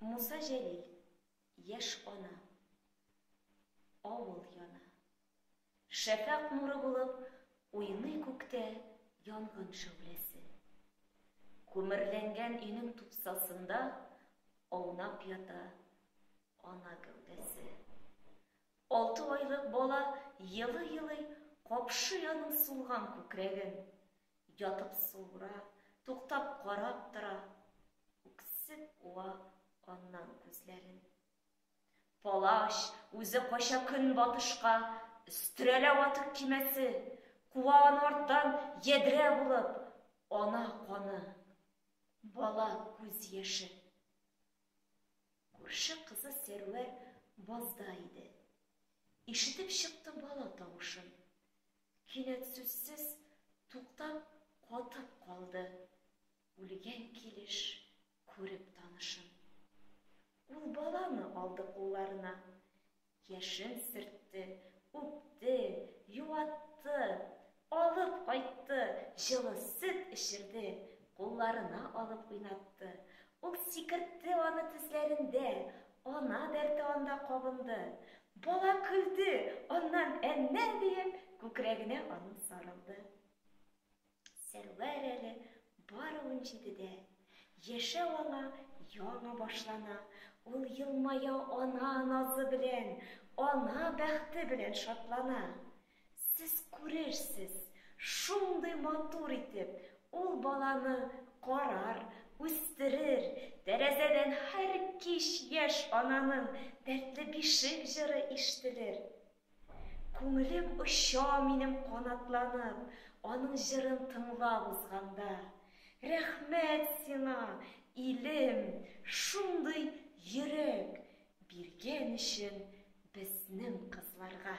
Муса Җәлил, яшь ана, авыл яна. Шәфәк нуры булып, уйный күктә янгын шәүләсе. Күмерләнгән өйнең тупсасында аунап ята ана гәүдәсе. Алты айлык бала елый-елый капшый аның сулган күкрәген. Ятып суыра, туктап карап тора. Үксеп куа аннан күзләрен. Палач үзе кача көнбатышка, өстерәлә ватык кимәсе, куа аны арттан ядрә булып, ана каны, бала күз яше. Күрше кызы Сәрвәр базда иде. Ишетеп чыкты бала тавышын. Кинәт сүзсез туктап, катып калды. Үлгән килеш күреп танышын. Ул баланы алды кулларына. Яшен сөртте, үпте, юатты, алып кайтты, җылы сөт эчерде, кулларына алып уйнатты. Ул сикертте аны тезләрендә, ана дәрте анда кабынды. Бала көлде, аннан әннән диеп күкрәгенә аның сарылды. Сәрвәр әле бары унҗидедә, яшәү аңа яңа башлана, ул елмая ана назы белән, ана бәхте белән шатлана. Сез күрерсез, шундый матур итеп ул баланы карар, үстерер, тәрәзәдән һәр кич яшь ананың дәртле бишек җыры ишетелер. Күңелем оча минем канатланып, аның җырын тыңлап узганда. Рәхмәт сиңа, илем, шундый йөрәк биргән өчен безнең кызларга.